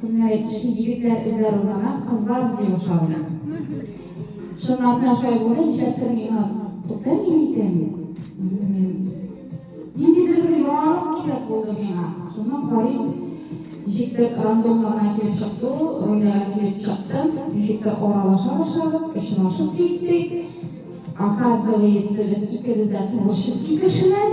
Көннәре кичке егетләр эзләр узана, кызлар эзли башлар аны. Чынлапна шулай булды, нишләптер миңа туктамый микән? Ниндидер бер яңалык кирәк булды миңа. Шуны карыйм, ничектер рандомно гына килеп чыкты ул, рольләргә килеп чыктым, ничектер аралаша башладык, очрашып киттек. Оказывается, без икебез дә творческий кешеләр.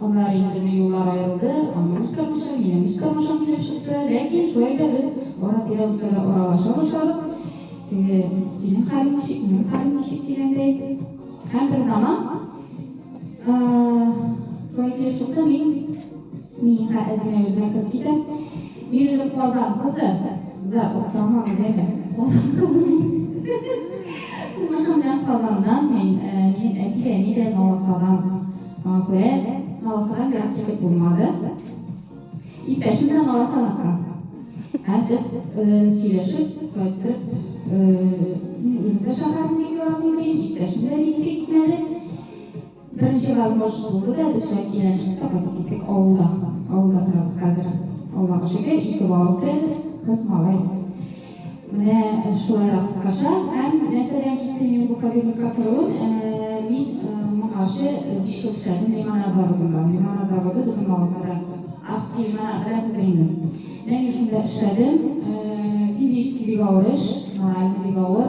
Аннары инде юллар аерылды, аның үз тормышы, минем үз тормышым килеп чыкты. Ләкин шулай да без ара-тирә үсә дә аралаша башладык. Теге синең хәлең ничек, минем хәлем ничек дигәндәй. Һәм бер заман шулай килеп чыкты, мин Миңа әзенә үзенә кереп китә. Мин үзем Казан кызы, да октама гүзәле, Казан кызы. Тумышым белән Казаннан мин, мин әти-әни дә Новосадан. Афәрин, наласарак ерак китеп булмады. Иптәшем белән наласаракка. Һәм без сөйләшеп кайттык. Үзем дә шәһәрне бик яратмый идем, иптәшем дә бик сөйтмәде. Беренче гармош булды да без шәп киләнчәктә кайтып киттек авылда. Авылда торабыз хәзер. Аллага шөкер, ике балабыз да без, кыз малай. Менә шулай да кыскача. Һәм нәрсәдән киттем мин бу кабинетка керүем? Мин моңарчы биш ел эшләдем лимонад заводында. Лимонад заводы безнең Маласада Арский лимонад, беләсез дә инде. Менә мин шунда эшләдем. Физически бик авыр эш, морально бик авыр.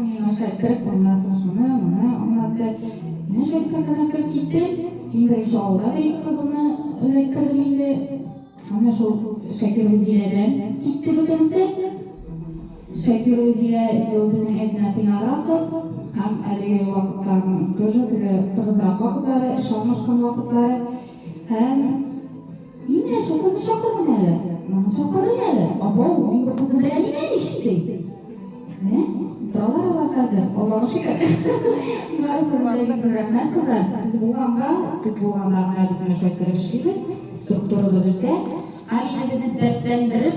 Миңлекәй кереп булмасын шуны, моны аңлатты. Ничә китапларны кереп китте. Иң беренче авылда да ике кызылны эләктердем инде. Әмма шул Шакиргузиләдән китте бөтенесе. Шакиргузилә инде ул безнең әтинә тыйнаграк кыз һәм әлеге вакытларның тоже теге тыгызрак вакытлары, эшкә урнашкан вакытлары һәм Имә, шул кызны чакырыйм әле. Моны чакырыйм әле. Абау, мин бу кызны беләм имә ич, ди. Менә, киталар алар хәзер. Аллага шөкер. Барысына да бик зур рәхмәт, кызлар. Сез булганга, сез булганга гына без менә шулай кереп эшлибез, структурабыз үсә. Һәм инде безне дәртләндереп,